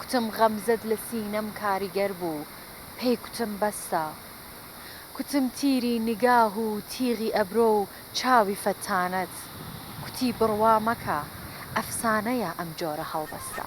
کوتم غەمزەت لە سینەم کاریگەر بوو پێی کوتم بەسە کوتم تیری نیگاه و تیغی ئەبرۆ و چاوی فەتانەت کوتی بڕوا مەکە ئەفسانەیە ئەم جۆرە هەڵبەستە.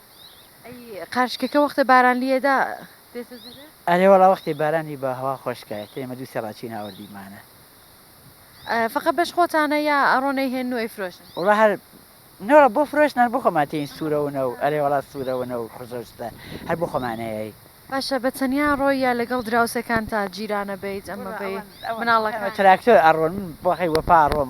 ئەی قارچکەکە وەختە باران لیەدا دێتە دەرێ؟ ئەرێ وەڵا وەختێ باران لی با هەوا خۆش کا ئێتە ئێمە دوو سێ ڕاچین هاوردی مانە. فەقە بەش خۆتانە یا ئەڕۆن ئەی هێنن و ئەی فرۆشن؟ وەڵا هەر نەوە بۆ فرۆشنان بۆ خۆمان تێین سوورە ونە و ئەرێ وەڵا سوورە ونە و خزۆشتە هەر بۆ خۆمان ئەیەی. باشە بە تەنیا ڕۆی یا لەگەڵ دراوسێکانتا جیرانە بەیت ئەمە بەی مناڵەکان؟ تراکتۆر ئەڕۆن من بۆخەی وەپا ئەڕۆم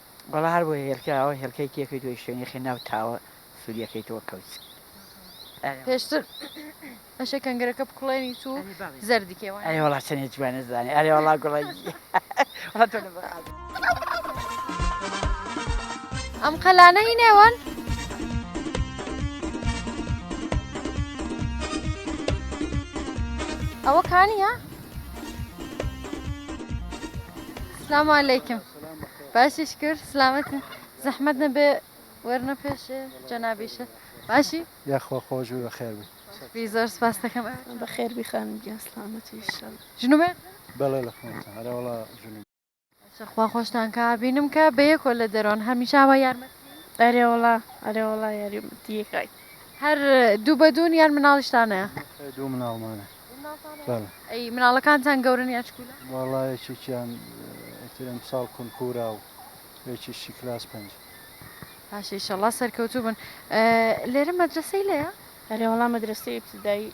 وەڵا هەر بۆیە هێلکە ئەوە هێلکەی تێکەی تۆی شوێنی خێ ناو تاوە سوریەکەی تۆ کەوت. پێشتر ئەشێ کەنگرەکە بکوڵێنیت و زەردی کێ وایە؟ ئەرێ وەڵا چەنێ جوانە زانێ ئەرێ وەڵا گوڵە ئەم قەلانە هی نێوان ئەوە کانیە؟ سلام علیکم باشیش کرد سلامەت زەحمەت نەبێ وەرنە پێش جەنابیشە باشی یاخوا خۆش بێ بەخێر بێ بی زۆر سپاس دەکەم بەخێر بی خانم گیان سلامەتی ئیشەڵ ژنوبێ بەڵێ لە خۆتە هەرەوەڵا ژن خوا خۆشتان کا بینم کە بەیەکۆ لە دەرۆن هەمیشاوە یارمە ئەرێوەڵا ئەرێوەڵا یاریمەتیەکیت هەر دوو بە دوون یان مناڵیشتان هەیە؟ بەخێر دوو مناڵمانە دوو مناڵتان هەیە؟ بەڵێ ئەی مناڵەکانتان گەورەن یان چکولە؟ وەڵا یەکێکیان ئیتر ئەمساڵ کونکورا و یەکیشی کلاس پێنج. باشە ئیشەڵا سەرکەوتوو بن. لێرە مەدرەسەی لەیە؟ بەلێ وەڵا مەدرەسەی ئیبتیدایی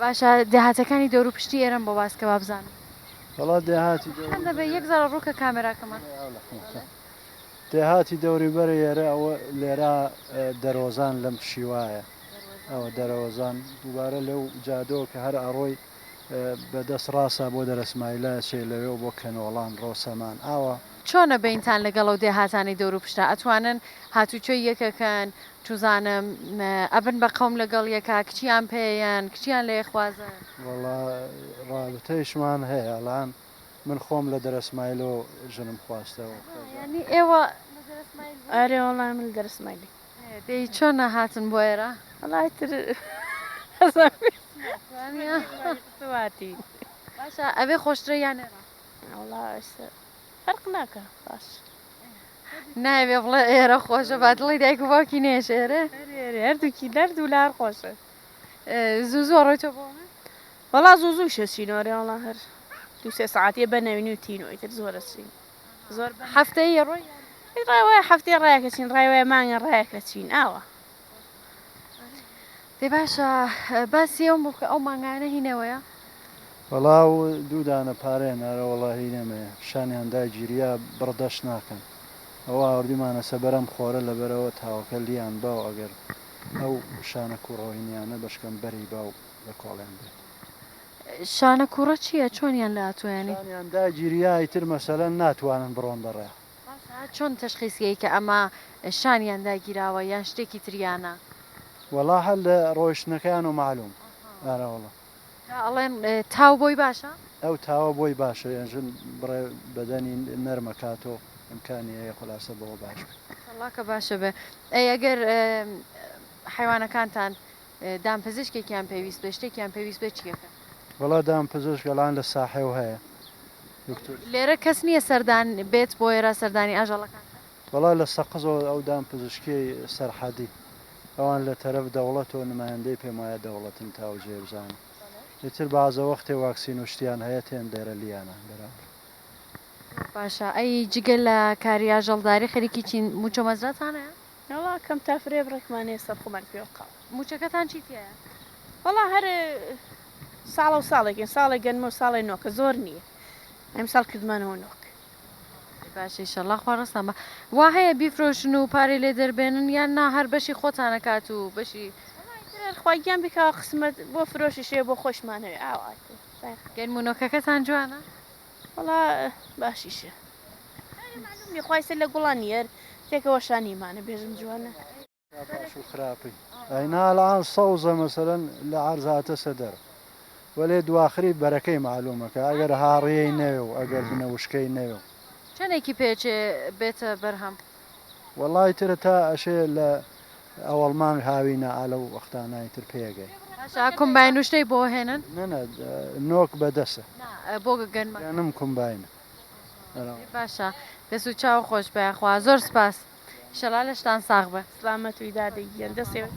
باشە دێهاتەکانی دەورو پشتی ئێرەم بۆ باس کە وابزانم وڵا دێهاتی یەک زار ڕووکە کامێراکەمان دێهاتی دەوری بەرە ئێرە ئەوە لێرا دەرۆزان لەم شیوایە ئەوە دەرەوەزان دووبارە لەو جادۆ کە هەر ئەڕۆی بەدەست ڕاستە بۆ دەرەسمایلا سێ لەوێ بۆ کەنۆڵان ڕۆسەمان ئاوە چۆنە بەینتان لەگەڵ ئەو دێهاتانی دەورو پشتا ئەتوانن هاتوچۆی یەکەکەن چوزانم ئەبن بە قەوم لەگەڵ یەکا کچیان پێیەن کچیان لێ خوازن. وەڵا ڕابتەیشمان هەیە ئەڵان من خۆم لە دەرەسمایلۆ ژنم خواستەوە. یانی ئێوە لە دەرەسمایل بوون؟ ئەرێ وەڵا من لە دەرەسمایلی. دەی چۆن هاتن بۆ ئێرە؟ وەڵا ئیتر سواتی. باشە ئەوێ خۆشترە یان ئێرە؟ وەڵا ئێسە فەرق ناکا باش. نایەوێ بڵێ ئێرە خۆشە با دڵی دایک و باوکی نێژێرێ هەردووکی دەرد و لار خۆشە زوو زۆر ڕۆی تۆ بۆ وەڵا زوو زوو شەچینۆرێ وڵا هەر دو سێ ساعتە بە نەوینی و تینۆی تر زۆرە چین زۆر هەفتەیە ڕۆی ڕای وایە هەفتەیە ڕایەکە چین ڕای وایە مانگە ڕایەکە چین ئاوە دەی باشە باسی ئەوم بکە ئەو مانگانە هی نەوەیە؟ وەڵا و دوو دانە پارەیە نارە وەڵا هی نەمەیە پیشانیان داگیریا بڕدەش ناکەن ئەوە ئاوردیمانە سە بەرەم خۆرە لەبەرەوە تاوەکە لیان باو ئەگەر ئەو شانە کوڕۆینیانە بەشکەم بەری باو لە کۆڵیان بێت. شانە کوڕە چیە چۆنیان لە ئەتوێنی؟ پیشانیان داگیریا ئیتر مەسەلەن ناتوانن بڕۆن بەڕێ. باشە چۆن تەشخیس کەی کە ئەمە شانیان داگیراوە یان شتێکی تریانە؟ وەڵا هەر لە ڕۆیشتنەکەیانەوە مەعلوم ئارا وەڵا. جا ئەڵێن تاو بۆی باشە؟ ئەو تاوە بۆی باشە یان ژن بڕێ بەدەنی نەرمەکاتۆ ئیمکانی هەیە خولاسە بەوە باش بێ. ماشاءاللە کە باشە بێ ئەی ئەگەر حەیوانەکانتان دامپزشکێکیان پێویست بێ شتێکیان پێویست بێ چیەکەن؟ وەڵا دام پزشک ئەڵان لە ساحێو هەیە دکتۆر. لێرە کەس نییە سەردان بێت بۆ ئێرە سەردانی ئاژەڵەکان کات؟ وەڵا لە سەقزەوە ئەو دام پزشکیەی سەرحەدی ئەوان لە تەرەف دەوڵەتەوە نمایندەی پێم وایە دەوڵەتن تا ئەو جێ بزانم ئیتر بەعزە وەختێ واکسین و شتیان هەیە تێن دێرە لیانە بەرابر. باشە ئەی جگە لە کاری ئاژەڵداری خەریکی چین؟ مووچە و مەزراتان هەیە؟ نەوە کەم تا فرێ بڕێکمان هەیە سەرخۆمان پێوە قاو موچەکەتان چی تایە وەڵا هەر ساڵە و ساڵێکین ساڵێک گەنمە و ساڵێ نۆکە زۆر نییە ئەم ساڵ کردمانەوە نۆک باشی شەڵا خوارەسان بە وا هەیە بیفرۆشن و پارەی لێ دەربێنن یان نا هەر بەشی خۆتانە کات و بەشی خواگیان بکەوە قسمەت بۆ فرۆشی شێ بۆ خۆشمانەوە ئاوات گەنمونۆکەکەتان جوانە وەڵا باشیشە مەعلومنیە خوای سەر لە گوڵان یەر تێکەوە شانیمانە بێژم جوانە. باش و خراپی ئەینا ئەلئان سەوزە مەسەلەن لە عەرز هاتەسە دەر وەلێ دواخری بەرەکەی مەعلومە کە ئەگەر هاڕیەی نەوێ و ئەگەر بنە وشکەی نەوێ و. چەنێکی پێچێ بێتە بەرهەم؟ وەڵای ترە تا ئەشێ لە ئەوەڵ مانگ هاوینە ئا لەو وەختانای تر پێگەی. باشە ئا کۆمباین و شتەی بۆ هێنن؟ نەنە نۆک بە دەسە. نا بۆ گەنمە. گەنم کۆمباینە. ئێ باشە دەس و چاو خۆش بە یاخوا زۆر سپاس ئیشەڵا لەشتان ساغ بئ. سڵامەت وی دادە گیان دەسێ.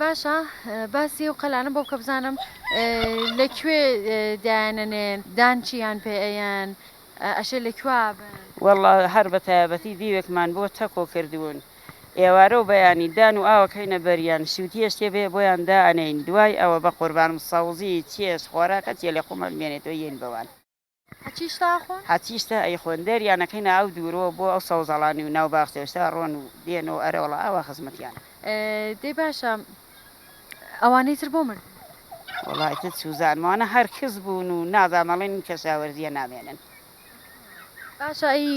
باشە باسی ئەو قەلانە بۆ بکە بزانم لە کوێ دایانەنێن دان چییان پێ ئەیەن ئەشێ لە کوا بن؟ وەڵڵا هەر بە تایەبەتی دیوێکمان بۆ تەکۆ کردوون ئێوارە و بەیانی دان و ئاو ئەکەینە بەریان شووتیەش تێ بێ بۆیان دائەنێین دوای ئەوە بەقوربانم سەوزی چێژ خۆراکە چیە لە خۆمان بێنێتەوە یەین بەوان. هەچیشتە ئەیخۆن دەریانەکەی ناو دوورۆ بۆ ئەو سەوزەڵانی و ناو باخچەشتە ڕۆن و دێن و ئەرەوڵا ئاوا خزمەتیان. دەی باشە ئەوانەی تر بۆ مردن؟ وەڵای تت سوزان وانە هەر کز بوون و نازام ئەڵێن ئین کەشاوەرزیە نامێنن. باشە ئەی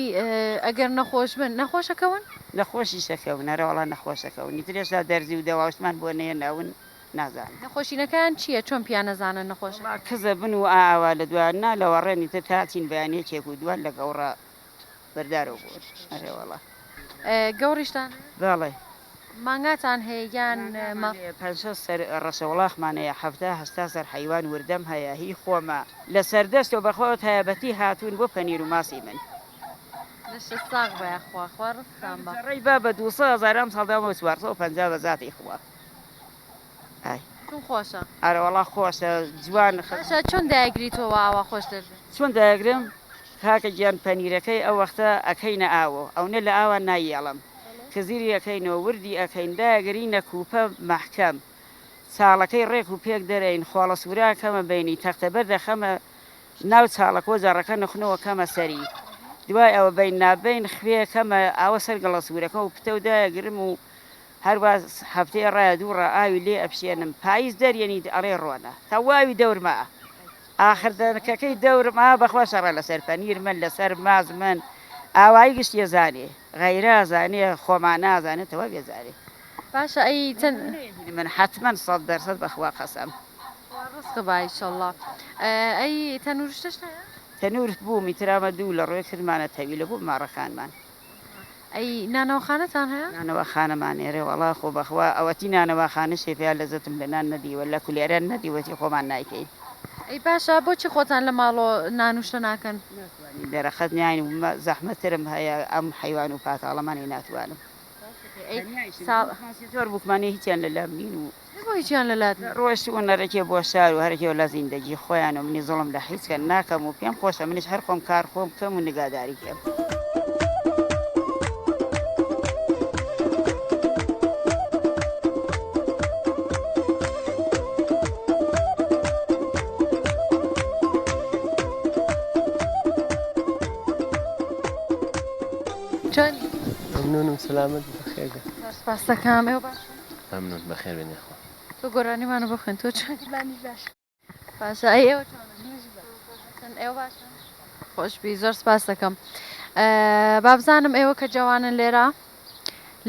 ئەگەر نەخۆش بن نەخۆش ئەکەون؟ نەخۆشیش ئەکەون ئەرەوڵا نەخۆش ئەکەون ئیتر ئێستا دەرزی و دەواوشتمان بۆ نەهێناون. نازانن. نەخۆشینەکان چیە چۆن پیا نەزانن نەخۆشە. وەڵا کزە بن و ئا ئاوا لە دوا نا لە وەڕێن ئیتر تا چین بەیان یەکێک و دوان لە گەوڕا بەردارەو بۆن ئەرێ وەڵا. گەوڕیشتان هەیە؟ بەڵێ. مانگاتان هەیە یان مانگامان هەیە پەنج شەست سەر ڕەشە وڵاخمان هەیە حەفتا هەشتا سەر حەیوان وردەم هەیە هی خۆمە لە سەردەشتەو بەخوا ئەو تایەبەتی هاتوون بۆ پەنیر و ماسی من. لەشت ساغ بە یاخوا خوا ڕزقتان با. ئەم جڕەی با بە دوو سەد هەزار ئەمساڵ دام و چوار سەد و پەنجا بە زاتی خوا. کم خۆشە ئەرەوەڵا خۆشە جوان خەشە چۆن دایگریتەوە ئاوا خۆش دەبێت چۆن دایگرم کاکە گیان پەنیرەکەی ئەو وەختە ئەکەینە ئاوۆ ئەونە لە ئاوا نایەڵم کزیری ئەەکەینەوە وردی ئەەکەین داگری نەکوپە مەحکەم چاڵەکەی ڕێک و پێک دەرەین خۆڵە سوورا کەمە بینی تەختە بەر دەخەمە ناو چاڵەکۆ جاڕەکە نخنەوە کەمە سەری دوای ئەوە بین نابین خوێ کەمە ئاوە سەر گەڵە سوورەکە و پتەودایە گرم و هەروا هەفتەی ڕایە دوو ڕا ئاوی لێ ئەپشێنم پایز دەریەنی ئەڵێ ڕۆنە تەواوی دەورم ئا ئاخر دەنکەکەی دەورم ئا بەخوا شەڕە لەسەر پەنیر من لەسەر ماز من ئاوایی گشت یەزانێ غەیرە زانێ خۆمان نازانێ تەوا بێزارێ باشە ئەی چەند من حتمما سەد دەرسەد بەخوا قەسەم ڕزق با ئیشەڵڵا ئەی تەنورشتەش هەیە تەنور بوومی ترامە دوو لە ڕۆێ کردمانە تەویلە بوو ماڕەکانمان ئەی نانەواخانەتان هەیە؟ نانەواخانەمان ئێرە وەڵا خۆ بەخوا ئەوەتی نانەواخانە شێ پێیا لەزەتم لە نان نەدیوە لە کولێرە نەدیوەتی خۆمان نایکەین. ئەی باشە بۆچی خۆتان لە ماڵۆ نانوشتە ناکەن؟ ناتوانین دەرەقەت ناین و زەحمەت ترم هەیە ئەم حەیوان و پاتاڵەمانەی ناتوانم. تەنیا ئیشم هەیە ماسیتۆر بوکمانێ هیچیان لەلام نین و نەمۆی جان لەلات نیە. ڕۆشت و نەڕکێ بۆ شار و هەرکێ و لە زیندەگی خۆیان و منی زوڵم لە حیچ کە ناکەم و پێم خۆشە منیش هەر خۆم کار خۆم بکەم و نگاداری کێم. جانی. مەمنونم سەلامەت بە خێر بێ. زۆر سپاستەکەم ئێوە باشن. مەمنون بەخێر بێن یاخوا. تۆ گۆرانیمانە بۆ خوێن تۆ چۆنی. منیش باشم باشە ئەی ئێوە چۆنن منیش باشم ئێوە باشن خۆشبی زۆر سپاس دەکەم بابزانم ئێوە کە جەوانن لێرە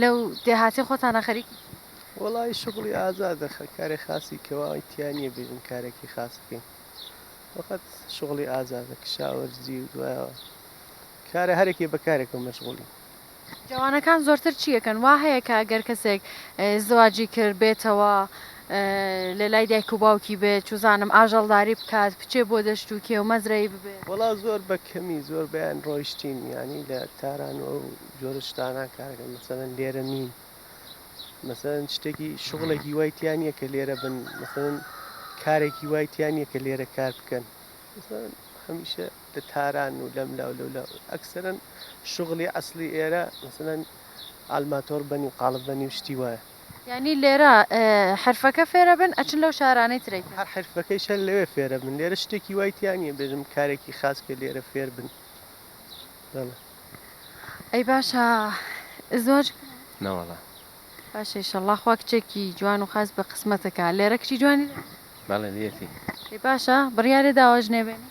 لەو دێهاتی خۆتانە خەریکی وڵی شغڵی ئازادە کارێ خاسی کەواوای تیانە بێژن کارێکی خاص بکەین وەخەت شغڵی ئازادە کشاوەرزی و دوایەوە کارە هەرێکی بەکارێکم مەشغولی جوانەکان زۆرتر چی ئەکەن؟ وا هەیە کە گەر کەسێک زواجی کرد بێتەوە لە لای دایک و باوکی بێت چوزانم ئاژەڵداری بکات بچێ بۆ دەشت و کێو مەزرەی ببێ. وەڵا زۆر بە کەمی زۆر بەیان ڕۆیشتین یانی لە تاران و ئەو جۆرە شتانە کارەکەن مەسەلەن لێرە نین مەسەلەن شتێکی شغڵێکی وای تیا نییە کە لێرە بن مەسەلەن کارێکی وای تیا نییە کە لێرە کار بکەن مەسەلەن هەمیشە لە تاران و لەم لاو لەو لاو ئەکسەرەن شغلی ئەسلی ئێرە مثلەن ئالماتۆر بەنی و قاڵب بەنی و شتی وایە یانی لێرە حرفەکە فێرە بن ئەچن لەو شارانەی ترەی هەر حرفەکەی شەر لەوێ فێرە بن لێرە شتێکی وای تیانە بێژم کارێکی خاس کە لێرە فێر بن ئەی باشە زۆر ناوەڵە باشە شەڵا خوا کچێکی جوان و خاس بە قسمەتەکە لێرە کچی جوانی بەڵێ لێتی باشە بڕیارێ داواژنێ بێنی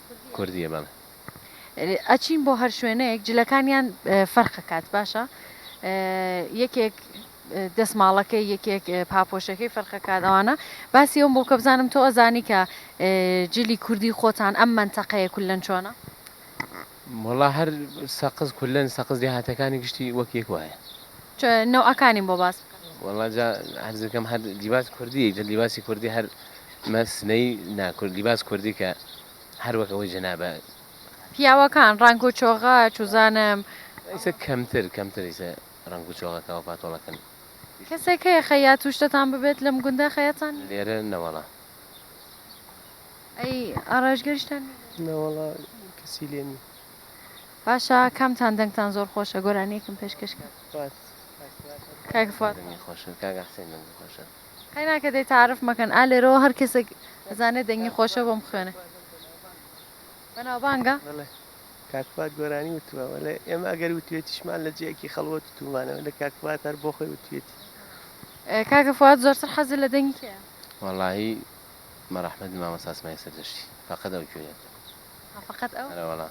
کوردیە بەم. ئەچین بۆ هەر شوێنێک جلەکانیان فەرقەکات باشە یەکێک دەستماڵەکەی یەکێک پاپۆشەکەی فەرقەکات ئەوانە باسی ئەوم بۆ کە بزانم تۆ ئەزانی کە جلی کوردی خۆتان ئەم منتەقەیە کولەن چۆنە مڵا هەر سەقز کولەن سەقز دێهاتەکانی گشتی وەک یەک وایە نەوەکانی بۆ باس وڵجا هەرزەکەم هەر لیباس کوردی جە لیباسی کوردی هەر مە سنەی نا کورد لیباس کوردی کە هەر وەک ئەوەی جەنابە. پیاوەکان ڕەنگ و چۆغە چوزانم. ئیسە کەمتر کەمتر ئیسە ڕەنگ و چۆغە کە وە پاتۆڵە کەن. کەسێک هەیە خەیات توشتتان ببێت لەم گوندە خەیاتتان نیە؟ لێرە نە وەڵا. ئەی ئاڕایشگەریشتان نیە لێرە؟ نە وەڵا کەسی لێ نیە. باشە کامتان دەنگتان زۆر خۆشە گۆرانیەکم پێشکەش کەن. فواد. کاک فواد. دەنگی خۆشە کاک حسێن دەنگی خۆشە. قەینا کە دەی تەعرف مەکەن ئا لێرەوە هەر کەسێک ئەزانێ دەنگی خۆشە بۆم بخوێنێ بەناوبانگە؟ بەڵێ کاک فواد گۆرانی وتووە وەلێ ئێمە ئەگەر وتوێتیشمان لە جێیەکی خەڵوەت وتومانەوە لە کاک فواد هەر بۆ خۆی وتوێتی کاکە فواد زۆرتر حەزی لە دەنگی کێیە؟ وەڵاهی بە ڕەحمەتی مامۆستا سمایل سەردەشتی فەقەت ئەو گوێیەم لێ ها فەقەت ئەو؟ ئەرێ وەڵا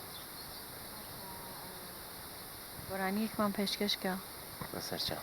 گۆرانیەکمان پێشکەش کە. بەسەرچاو.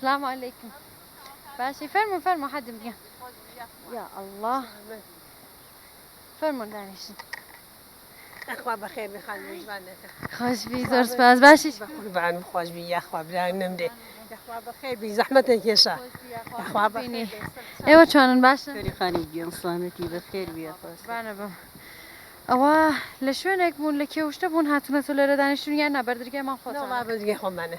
سلام علیکم باشی فەرمو فەرمو حەدم گیان یا ئەڵڵا فەرمون دانیشن ئەخوا بەخێر بخان میوانەکە خۆش بی زۆر سپاس باشی قوربان خۆش بی یاخوا بران نمرێ یاخوا بەخێر بی زەحمەتە کێشە یاخوا بینی ئێوە چۆنن باشە خانی گیان سلامەتی بەخێر بی بانە بم ئەوە لە شوێنێک بوون لە کێوشتە بوون هاتونەتە لێرە دانیشتون یان نابەردرگای ماڵ خۆ بەردرگای خۆمانە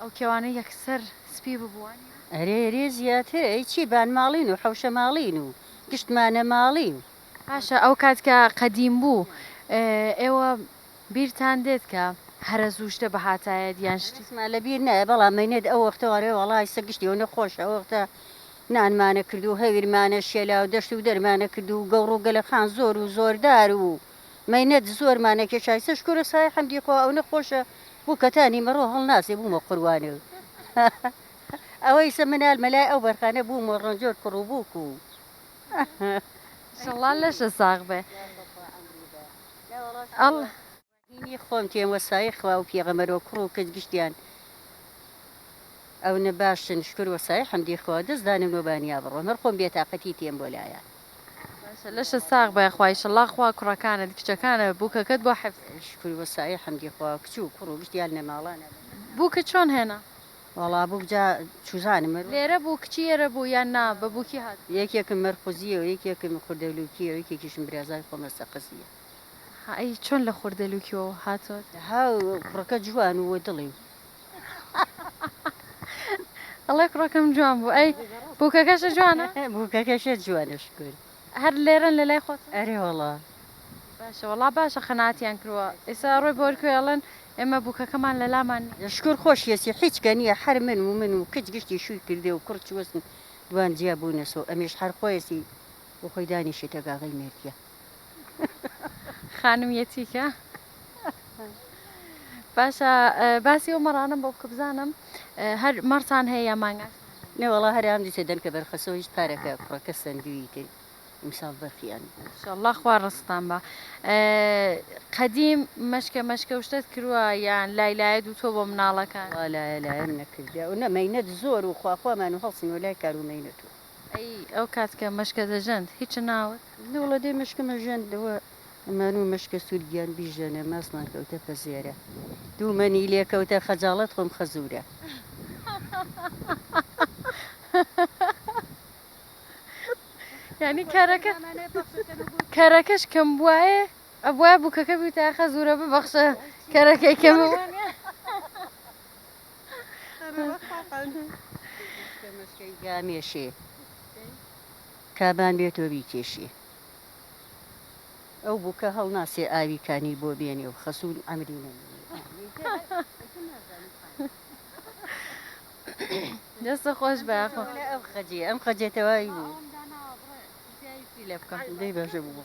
ئەو کێوانە یەکسەر سپی ببووە. ئەرێ ئەرێ زیاتر ئەی چی بانماڵین و حەوشەماڵین و گشتمانەماڵین. باشە ئەو کات کە قەدیم بوو ئێوە بیرتان دێت کە هەرە زوو شتە بهاتایەت یان شتی. ڕێزما لە بیر نایە بەڵام مەینەت ئەو وەختە ئەرێ وەڵا ئیسە گشتی ئەونە خۆشە ئەو وەختە نانمانە کرد و هەویرمانە شێلا و دەشت و دەرمانە کرد و گەوڕ و گەلەخان زۆر و زۆردار و. مەینەت زۆر مانە کێشای سە شکورە سای حەمدی خوا ئەونە خۆشە بو کە تا نیمە ڕۆ هەڵ ناسێ بومە قوروانێو ئەوە ئیسە منال مە لای ئەو بەرخانە بوم و ڕەنجۆر کوڕو بوک و شەڵا لەشە ساغ بێ ئەڵ. هینی خۆم تێم وە سایەی خوا و پێغەمەرو کوڕو کچ گشتیان ئەونە باشن شکور وە سایەی حەمدی خوا دەس دانم نۆ بانیا بڕۆم هەر خۆم بێ تاقەتی تێم بۆ لایان. باشە لەشت ساغ بئ خوا ئیشەڵا خوا کوڕەکانت کچەکانت بوکەکەت بۆ حفظ کرد. شکر و سایە حمدی خوا کچ و کوڕ و گشت یان نە ماڵە نە بە. بووکت چۆن هێنا؟ وەڵا بووک جا چوزانم مەر. لێرە بوو کچی ئێرە بوو یان نا بە بووکی هاتووە. یەکێکم مەرقوزیە و یەکێکم خوردەلوکی و یەکێکیشم برازای خۆمە سەقزیە. هە ئەی چۆن لە خوردەلوکی و هاتۆت. هە و کوڕەکە جوان و دڵی و ئەڵێ کوڕەکەم جوان بوو ئەی بووکەکەشە جوانە بووکەکەشە جوانە شکر هەر لێرەن لە لای خۆت ئەرێ وەڵا باشە وەڵا باشە قەناتیان کردووە ئێستا ڕۆی بۆرکوێ ئەڵێن ئێمە بووکەکەمان لە لامان شکر خۆشیەسی حیچ کە نییە هەر من و من و کچ گشتی شووی کردێ و کوڕ چوەسن دوان جیا بوونەسۆ ئەمیش هەر خۆیەسی بۆ خۆی دانیشێتە گاغەی مێردیە خانم یەتیکە. باشە باسی ئەو مەڕانم بۆ بکە بزانم هەر مەڕتان هەیە یا مانگا نێوەڵا هەریان دیتێ دەنکە بەرخەسەوە هیچ پارەکە کوڕەکە سندوی تێ ئیمساڵ بەرخیان شله خوا ڕستان بە قەدیم مەشکە مەشکە شتت کرووە یان لای لایە دوو تۆ بۆ مناڵەکان لایە لایەن نەکردیا و نەمەینەت زۆر و خواخوامان و هەڵسن و لای کارومەینەت و ئەی ئەو کات کە مەشکە دەژەند هیچ ناوت؟ لوڵە دەی مەشکم ئەژەند ئەوە ئەمان و مەشکە سوور گیان بیژەنە ماسمان کەوتە پەژێرە دوومەنی لێ کەوتە خەجاڵەت خۆم خەزوورە. یانی کەرەکە کەرەکەش کەم بوایە ئەبوایە بووکەکە بیوتایە خەزوورە ببەخشە کەرەکەی کەمە. گامێشێ کابان بێتۆ بیکێشێ ئەو بووکە هەڵناسێ ئاوی کانی بۆ بێنێ و خەسوون ئەمری نەمێنێ دەستە خۆش بە ئەو خەجێ ئەم خەجێتەوەی بوو لە بکەم دەی بەژە بوو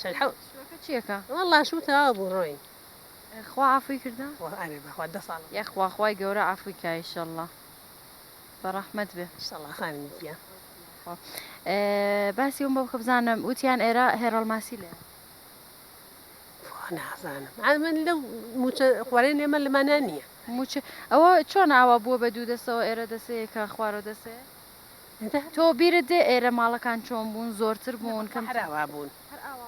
چەند حەو. شوەکە چیەکە وەڵا شوو تەواو بوو ڕۆین. خوا عەفوی کردە؟ ئەرێ بەخوا دە ساڵە. یەخوا خوای گەورە عەفوی کا ئیشەڵا بە ڕەحمەت بێ. ئیشەڵا خانمی گیان. یاخوا باسی ئەوم بۆ بکە بزانم وتیان ئێرە هێڕەڵ ماسی لێ. نازانم عاد من لەو موچە خوارێن ئێمە لەمانا نییە. موچە ئەوە چۆن ئاوا بووە بە دوو دەسەوە ئێرە دەسەیەکە خوارۆ دەسەیە. تۆ بیرت دێ ئێرە ماڵەکان چۆن بوون زۆرتر بوون کەم هەراوا بوون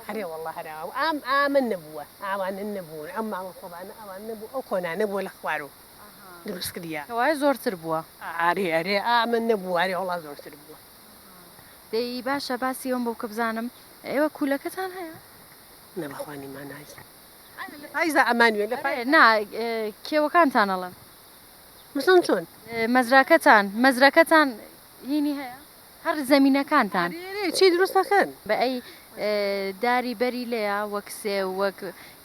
هەرێ واللە هەراوا ئام ئامە نەبووە ئاوانە نەبوون ئەم ماڵە خۆبانە ئەوان نەبوو ئەو کۆنانە بووە لە خوارو دروست کردیە کەوایە زۆرتر بووە ئارێ ئەرێ ئامە نەبوو ئارێ وەڵا زۆرتر بووە. دەی باشە باسی ئەوەم بۆ بکە بزانم ئێوە کوولەکەتان هەیە؟ نە بەخوا نیمانای ئایا لە پایزا ئەمانوێ لە پایز نا کێوەکانتان ئەڵێم. مەسەڵەن چۆن؟ مەزراکەتان مەزرەکەتان هینی هەیە؟ هەر زەمینەکانتان؟ چی دروست دەکەن؟ بە ئەی داری بەری لێیە وەک سێو وەک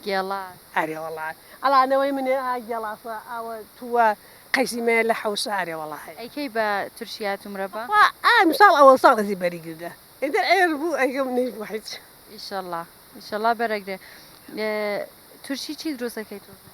گێڵاس؟ ئەرێ وەڵا ئەڵا نەوەی منێ ئا گێڵاسە ئاوە تووە قەیسی مەیە لە حەوشە ئەرێ وەڵا هەیە. ئەی کەی بە تورشیات و مرەبا؟ خوا ئا ئمساڵ ئەوەڵ ساڵ ئەزی بەری گردە ئێدە عێر بوو ئەگەم نەی بوو حیچ. ئیشەڵا ئیشەڵا بەرەگرێ تورشی چی دروست ئەکەی تۆزێ؟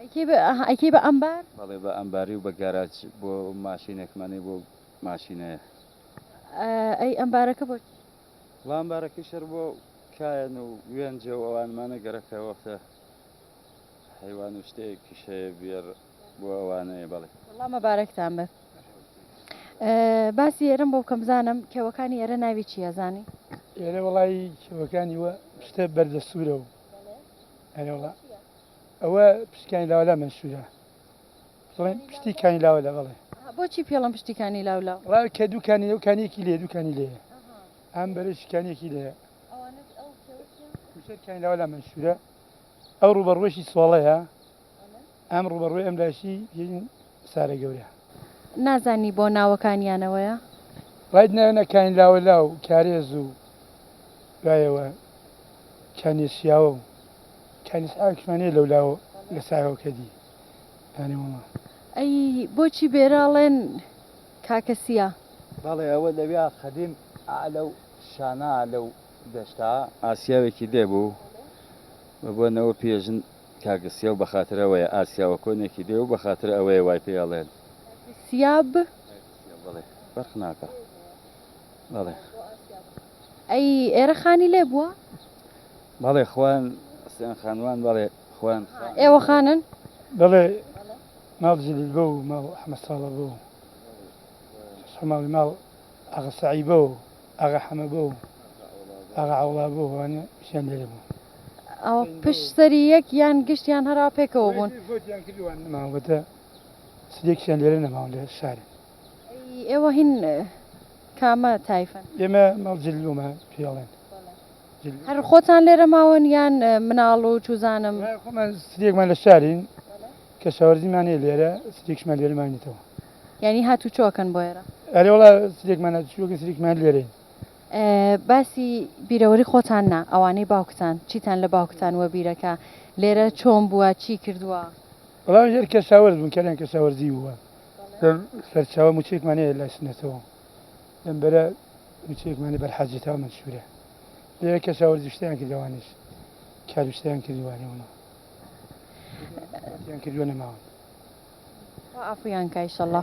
ئەیکەی بە ئەمبار؟ بەڵێ بە ئەمباری و بە گاراج بۆ ماشینێکمانەی بۆ ماشینەیە. ئەی ئەمبارەکە بۆ چی؟ وڵا ئەمبارەکەی شەر بۆ کایەن و وێنجە و ئەوانمانە گەرەکە وەختە حەیوان و شتەیەکیش هەیە بێر بۆ ئەوانەیە بەڵێ. وڵا مەبارەکتان بێت. باسی ئێرەم بۆ بکەم بزانم کێوەکانی ئێرە ناوی چییە زانی؟ ئێرە وەڵایی کێوەکانی وە شتە بەردەستوورە و ئەرێ وڵا. ئەوە پشتی کانی لاوە لا مەنشورە دەڵێن پشتی کانی لاوە لا بەڵێ بۆچی پێڵم پشتی کانی لاو لا ڕا کە دوو کانی لەو کانیەکی لێ دوو کانی لێ ئەم بەرەش کانیەکی لێ کوشەر کانی لاوە لا مەنشورە ئەو ڕوبەڕوەشی سۆڵەیە ئەم ڕوبەڕوی ئەم لاشی سارە گەورە. نازانی بۆ ناوەکانیانەوەیە؟ ڕاید ناوێنە کاین لاوەلا و کارێز و دوایەوە کانێ شیاوە و کانێ سعاوێکشمان هەیە لەولاوە لە ساوێوە کە دی دانێ مەمە. ئەی بۆچی بێرە ڵێن کاکە سیا؟ بەڵێ ئەوە لەویا قەدیم ئا لەو شانە ئا لەو دەشتە. ئاسیاوێکی لێ بوو بە بۆ نەوە پیێ ژن. کاک سیاو بەخاتر ئەوەیە ئاسیاوە کۆنێکی دێ و بەخاتر ئەوەیە وای پێ ئەڵێن. سیاب. بەڵێ فەرق ناکا بەڵێ. ئەی ئێرە خانی لێ بووە؟ بەڵێ خوان سیان خانوان بەڵێ خوان. ئێوە خانن؟ بەڵێ ماڵ جلیل بۆ و ماڵ ئەحمەد ساڵە بۆ و شەش حەماڵی ماڵ. ئاغا سەعیبە و ئاغا حەمەبە و ئاغا عەوڵابە و ئەوانە ژیان لێرە بوو. ئەوە پشت سەری یەک یان گشت یان هەرا پێکەوە بوون؟ ئەوەی زۆریان کرد ئەوان نەماون واتە سلێکیشیان لێرە نەماون لە شارن. ئەی ئێوە هین کامە تایفەن؟ ئێمە ماڵ جلومە پێی ئەڵێن. هەر خۆتان لێرە ماون یان مناڵ و چوزانم؟ نا خۆمان سلێکمان لە شارین کەشاوەرزیمان هەیە لێرە سلێکیشمان لێرە ماوینەتەوە. یانی هاتوچۆکەن بۆ ئێرە؟ ئەرێ وەڵا سرێکمان هاتوچۆکە سرێکمان لێرەین. باسی بیرەوەری خۆتان نا ئەوانەی باوکتان چیتان لە باوکتان وەبیرە کە لێرە چۆن بووە چی کردووە؟ وەڵا ژێر کەشاوەرز بوون کەلیان کەشاوەرزی بووە لەم سەرچاوە موچەیەکمان هەیە لای سنەتەوە لەم بەرە موچەیەکمان هەیە بەر حاجی تاو مەنسوورە لێرە کەشاوەرزی شتیان کرد ئەوانیش کار و شتیان کردووە لەوەوە شتیان کردووە نەماون. عەفویان کا ئیشەڵا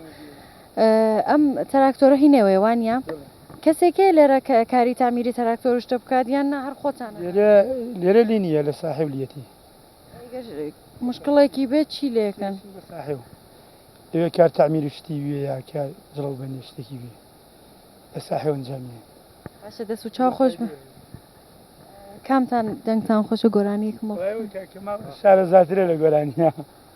ئەم تراکتۆرە هی نێوەیە وانە کەسێکەیە لێرە کاری تامیری تراکتۆر شتە بکات یان نە هەر خۆتان لێرە لی نیە لە ساحب لیەتی مشکڵێکی بێت چی لێکەن ئەوێ کار تامیری شتی وێ یا کار جڵەو بە نیشتێکی وێ لە ساحێ ئەنجامی باشە دەست و چاو خۆش بە کامتان دەنگتان خۆشە گۆرانیەکمەوە شارە زیاترە لە گۆرانیە.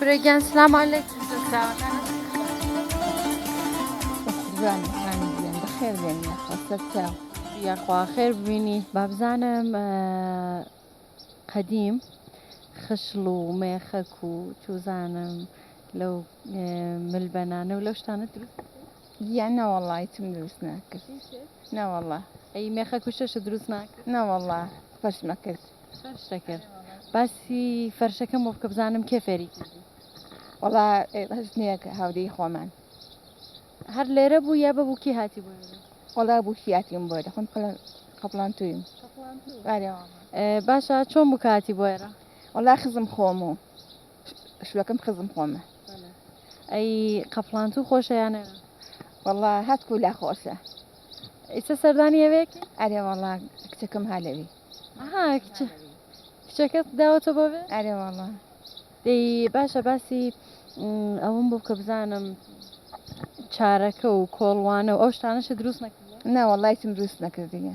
برێگیان سلام علیک خێر بێن سەرچاو یاخوا خێر ببینی بابزانم قەدیم خشڵ و مێخەک و چوزانم لەو ملبەنانە و لەو شتانە دروست گیان نەوەڵا هیچم دروست ناکرد نەوەڵا ئەی مێخە کوشەشە دروست ناکرد نەوەڵا فەرشمە کرد فەرشە کرد باسی فەرشەکەم بۆ بکە بزانم کێ فێری کردی وەڵا هەژنیەکە هاودەی خۆمان هەر لێرە بوو یا بە بووکی هاتی بوو وەڵا بووکیاتیم بۆ دەخۆم قەپڵان تویم باشە چۆن بکاتی بۆێرە وەڵا خزم خۆم و شلەکەم خزم خۆمە ئەی قەفڵانتو خۆشە یانە وەڵا هەتکو لا خۆشە ئیسە سەردانی ئەوێک ئەرێ وەڵا کچەکەم هالەوی کچەکەت داوەتە بۆ بێ ئەرێ وەڵا دەی باشە باسی ئەوم بۆ کە بزانم چارەکە و کۆڵوانە و ئەو شتانەشە دروست نەکە ناوەڵایتم دروست نەکردیە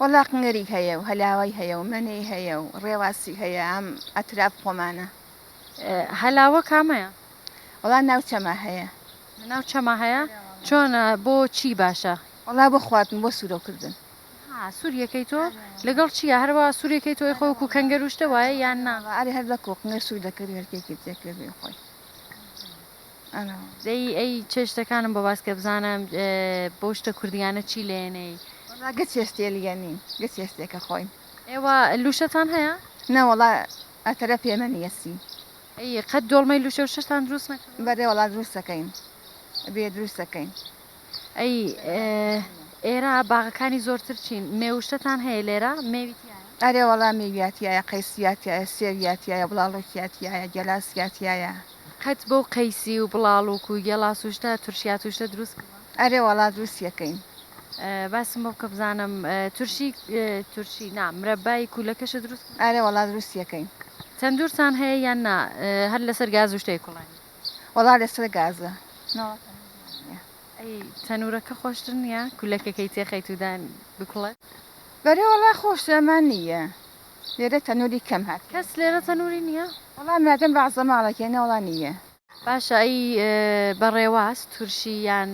وەڵا قنگەری هەیە و هەلاوای هەیە و مەنێی هەیە و ڕێواسی هەیە ئەم ئەتراف خۆمانە. هەلاوە کامەیە؟ وەڵا ناو چەما هەیە. ناو چەما هەیە؟ چۆن بۆ چی باشە؟ وەڵا بۆ خواردن بۆ سورۆ کردن. ها سوری ئەکەی تۆ لەگەڵ چیە هەر وا سوری ئەکەی تۆ خۆ وەکو کەنگەر و شتە وایە یان نا؟ ئاری هەر بەکۆ قنگەر سور دەکەوی هەر کێکی تێکەوی خۆی. دەی ئەی چێ شتەکانم بۆ باسکە بزانم بەو شتە کوردیانە چی لێنەی. وەڵا گەچ هێستێ لیە نیم گەچ هێستێکە خۆین. ئێوە لوشەتان هەیە؟ نە وەڵا ئەتەرە پێمە نیە سی. ئەی قەت دۆڵمەی لوشە و شەشتان دروست نەکردوە؟ بەرێ وەڵا دروستەکەین بێ دروستەکەین. ئەی ئێرە باغەکانی زۆرتر چین مێوشتتان هەیە لێرە مێوی تیایە؟ ئەرێ وەڵا مێویا تیایە قەیسیا تیایە سێویا تیایە بڵاڵۆکیا تیایە گێلاسیا تیایە. قەت بەو قەیسی و بڵاڵوک و گێڵاس و شتە تورشیا توشتە دروست کردوە؟ ئەرێ وەڵا دروستی ئەکەین. باسم بۆ بکە بزانم تورشی تورشی نا مرەبای کوولەکەشە دروست کردوە؟ ئەرێ وەڵا دروستی ئەکەین. تەندورتان هەیە یان نا هەر لەسەر گاز و شتەی کوڵاین؟ وەڵا لەسەر گازە ناوەکە ئەی تەنورەکە خۆشتر نییە کولەکەکەی تێخەیت و دان بکوڵێ بەرێ وەڵا خۆش ئەمان نییە لێرە تەنوری کەم هات کەس لێرە تەنوری نییە وەڵا مادەم بەعزە ماڵەکێ نەوەڵا نییە باشە ئەی بەڕێواز تورشی یان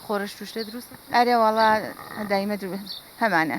خۆرەش توشتێ دروست ئەرێ وەڵا دایمە درو هەمانە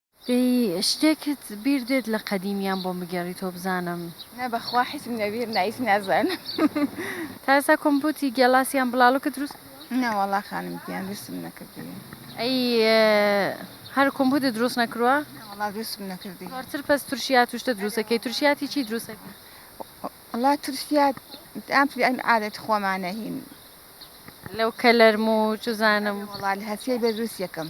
دەی شتێکت بیر دێت لە قەدیمیان بۆم بگێڕیتۆ بزانم. نا بەخوا حیسم لە بیر نا هیچ نازانم. تا ئێستا کۆمپۆتی گێلاس یان بڵاڵۆکت دروست کردووە؟ نا وەڵا خانم گیان دروستم نەکردووە. ئەی هەر کۆمپۆتت دروست نەکرووە؟ نا وەڵا دروستم نەکردووە. زۆرتر پەس ترشیات و شتە دروست ئەکەی ترشیاتی چی دروست ئەکەی؟ وەڵا ترشیات ئەم عادەتی خۆمانە هین. لەو کەلەرم و چزانم. وەڵا هەر سێ بێ دروستی ئەکەم.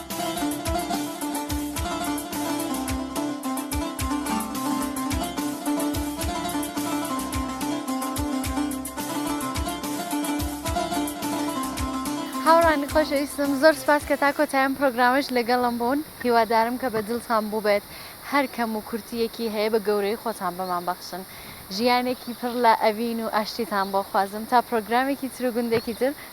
هاوڕانی خۆشەویستم زۆر سپاس کە تا کۆتایان پرۆگرامش لەگەڵم بوون هیوادارم کە بە دڵتان بووبێت هەر کەم و کورتیەکی هەیە بە گەورەی خۆتان بەمان بەخشن ژیانێکی پڕ لە ئەڤین و ئاشتیتان بۆ خوازم تا پرۆگرامێکی تر و گوندێکی تر